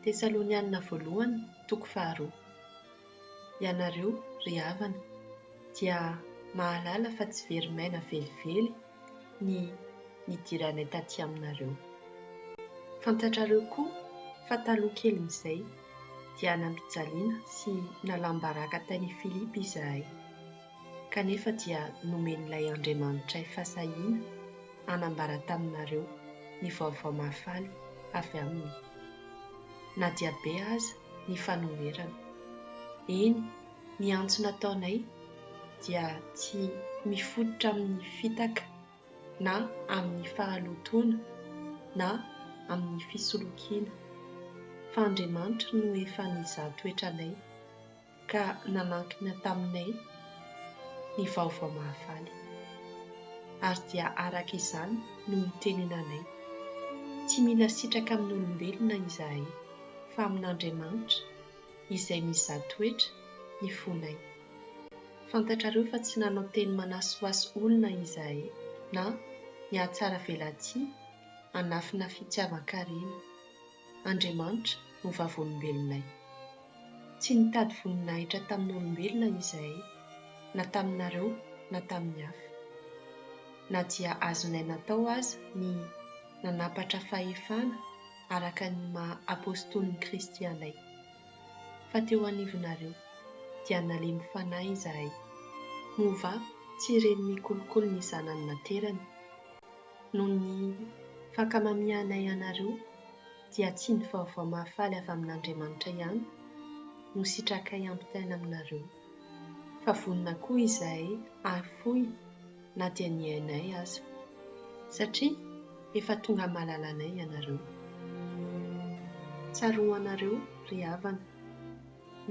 Tesalonianina Voalohany toko faharoa. Ianareo, ry havana, dia mahalala fa tsy very maina velively ny nidiranay tatỳ aminareo. Fantatrareo koa fa taloha kelin'izay dia nampijaliana sy nalam-baraka tany Filipy izahay, kanefa dia nomen'ilay Andriamanitray fasahiana hanambara taminareo ny vaovao mahafaly avy aminy, na dia be aza ny fanoherana. Eny, ny antso nataonay dia tsy mifototra amin'ny fitaka na amin'ny fahalotoana na amin'ny fisolokiana, fa Andriamanitra no efa nizaha toetranay ka nanankina taminay ny vaovao mahafaly. Ary dia araka izany no itenenanay, Tsy mila sitraka amin'olombelona izahay, fa amin'Andriamanitra, Izay mizaha toetra ny fonay. Fantatrareo fa tsy nanao teny manasohaso olona izahay na nihatsaravelatsihy hanafina fitiavan-karena. Andriamanitra no vavolombelonay. Tsy nitady voninahitra tamin'olombelona izahay, na taminareo na tamin'ny hafa. Na dia azonay natao aza ny nanampatra fahefana araka ny maha apostolin'i Kristy anay. Fa teo anivonareo dia nalemy fanahy izahay. Moa va tsy ren'ny kolikoly ny zanany naterany? Noho ny fankamamianay anareo, dia tsy ny vaovao mahafaly avy amin'Andriamanitra ihany no sitrakay hampitaina aminareo, fa vonona koa izahay hahafoy na dia ny ainay aza, satria efa tonga malalanay ianareo. Tsaroanareo, ry havana,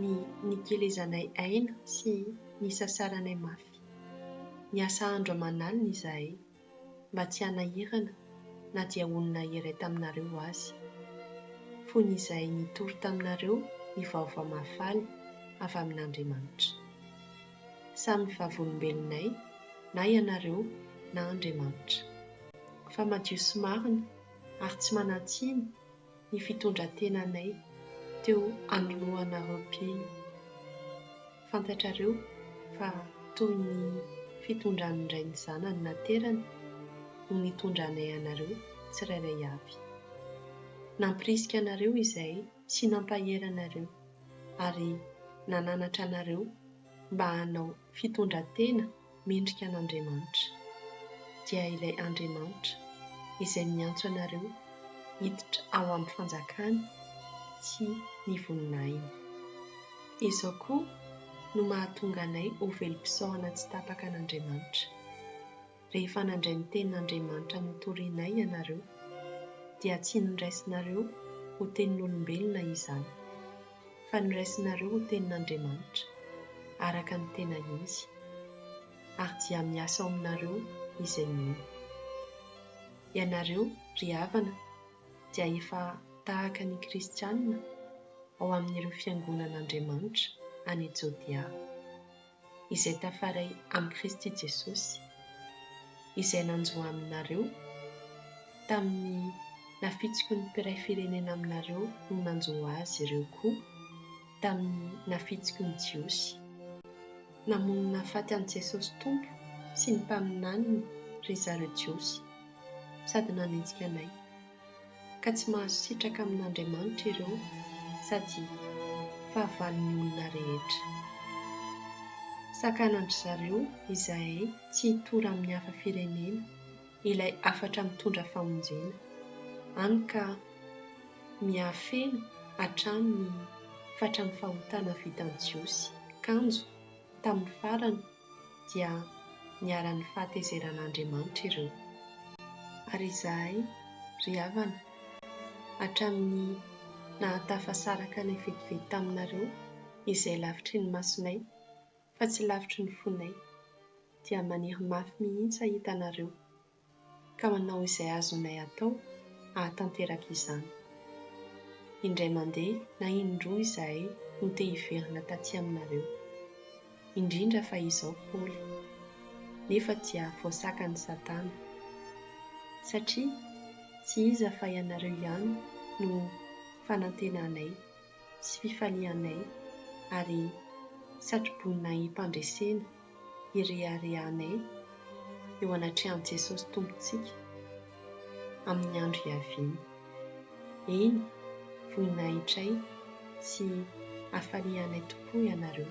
ny nikelezanay aina sy nisasaranay mafy. Niasa andro aman'alina izahay mba tsy hanahirana na dia olona iray taminareo aza. Fony izay nitory taminareo ny vaovao mahafaly avy amin'Andriamanitra. Samy vavolombelonay na ianareo na Andriamanitra. Fa madio sy marina ary tsy manan-tsiny ny fitondran-tenanay teo anoloanareo mpino. Fantatrareo fa toy ny fitondran'ny Ray ny Zanany naterany no nitondranay anareo tsirairay avy. Nampirisika anareo izahay sy nampahery anareo ary nananatra anareo mba hanao fitondran-tena mendrika an'Andriamanitra, dia ilay Andriamanitra izay miantso anareo hiditra ao amin'ny fanjakany sy ny voninahiny. Izao koa no mahatonga anay ho velom-pisaorana tsy tapaka an'Andriamanitra. rehefa nandray ny tenin'Andriamanitra notorianay ianareo, dia tsy noraisinareo ho tenin'olombelona izany, fa noraisinareo ho tenin'Andriamanitra, araka ny tena izy, ary dia miasa ao aminareo izay mino. Ianareo, ry havana, dia efa tahaka ny Kristianina ao amin'ireo fiangonan'Andriamanitra any Jodea. izay tafaray amin'i Kristy Jesosy, izay nanjo aminareo tamin'ny nafitsiky ny mpiray firenena aminareo ho nanjo azy ireo koa tamin'ny nafitsiky ny Jiosy. Namono nahafaty an'i Jesosy Tompo sy ny mpaminaniny ry zareo Jiosy, sady nanenjika anay. ka tsy mahazo sitraka amin'Andriamanitra ireo sady fahavalon'ny olona rehetra. Sakanan-dry zareo izahay tsy hitory amin'ny hafa firenena ilay hafatra mitondra famonjena, hany ka miha-feno hatrany ny fatran'ny fahotana vitan'ny Jiosy kanjo tamin'ny farany, dia niharan'ny fahatezeran'Andriamanitra ireo. Ary izahay, ry havana, hatramin'ny nahatafasaraka anay vetivety taminareo izay lavitry ny masonay fa tsy lavitry ny fonay, dia maniry mafy mihitsy hahita anareo, ka manao izay azonay atao hahatanteraka izany. Indray mandeha na in-droa izahay no te hiverina taty aminareo. Indrindra fa izao Paoly. Nefa dia voasakan'i Satana. Satria tsy iza fa ianareo ihany no fanantenanay. sy fifalianay ary satroboninahim-pandresena ireharehanay eo anatrehan'i Jesosy Tompontsika amin'ny andro hiaviany. Eny, voninahitray sy hafalianay tokoa ianareo.